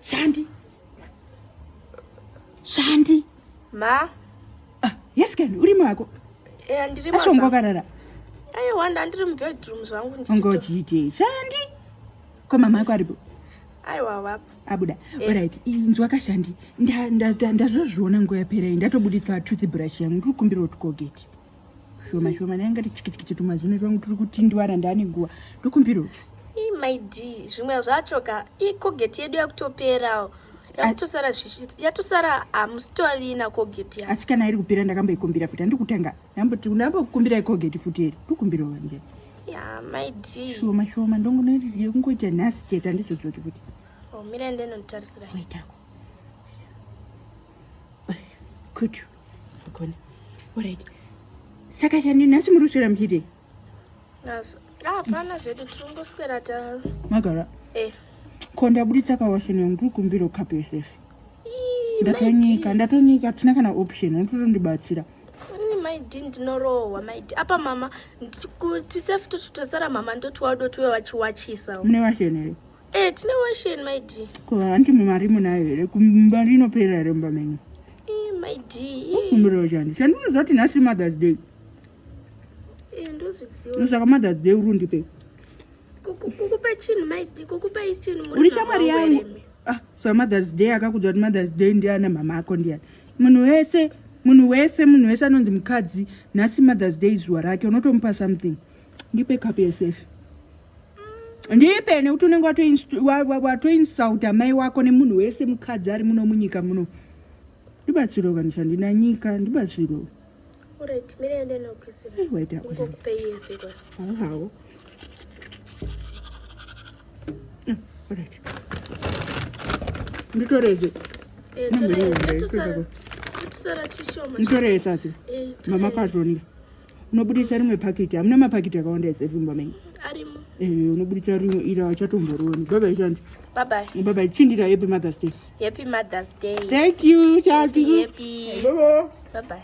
Shandi. Shandi. Ma. Ah, yes kani, uri mwako. Eh, ndiri mwako. Ashongo karara. Ayi wanda ndiri mu bedroom zvangu ndichito. Ngochite. Shandi. Ko mama yako aripo. Ayi wawa. Abuda. Eh. Alright, inzwa kashandi. Ndazozviona nguva yapera iyi ndatobuditsa toothbrush yangu ndiri kumbira kuti kogeti. shoma shoma naye ngati chikichikiti tumazino twangu turi kutindwara ndane nguva ndokumbiro maid zvimwe zvacho ka ikogeti yedu yakutoperawo yatosara yatosara hamusitorina kogeti ya asi kana iri kupera ndakamboikumbira futi handikutanga ndambokukumbira ikogeti futi iri ndokumbiro wanje ya maid shoma shoma ndongonoyekungoita nhasi chete handizodzoki futi omira oh, ndenotarisira waitako kutu Gone. All right. Saka chani nhasi muri kuswera muchidei? Nhasi. Ah, hapana zvedu tiri kungoswera ta. Magara. Eh. Ko ndaburitsa pawasheni yangu tiri kumbira ukape yosefe. Ndatonyika, ndatonyika, hatina kana option, unototondibatsira. Mm maidi ndinorohwa maidi apa mama twisef totosara mama ndoti wado tiwe wachiwachisa mune vasheni here Eh, tine washeni my dear. Ko hanti mumari munayo here kumba rinopera here mumba menyu? Eh, my dear. Ukumbirawo chani. Chandinoziva kuti nhasi Mother's Day. Eh, ndozviziva. Ndosaka Mother's Day uri undipe. Kukupa chinhu my dear, kukupa chinhu muri. Uri shamwari yangu. Ah, so Mother's Day akakudza kuti Mother's Day ndiana mama ako ndiani. Munhu wese, munhu wese, munhu wese anonzi mukadzi, nhasi Mother's Day zuva rake unotomupa something. Ndipe cup yesefi. ndipe nekuti unenge watoinsulta mai wako nemunhu wese mukadzi ari muno munyika muno ndibatsiro vanhu chandina nyika ndibatsiro hawo nditoreze nditoreza mama kazonda unobudisa rimwe pakiti hamuna mapakiti akawanda esevimba mai arimo eh unobudisa rimwe ira wachatomboroni bye bye chandi bye bye bye bye chindira happy mother's day happy mother's day thank you chati happy bye bye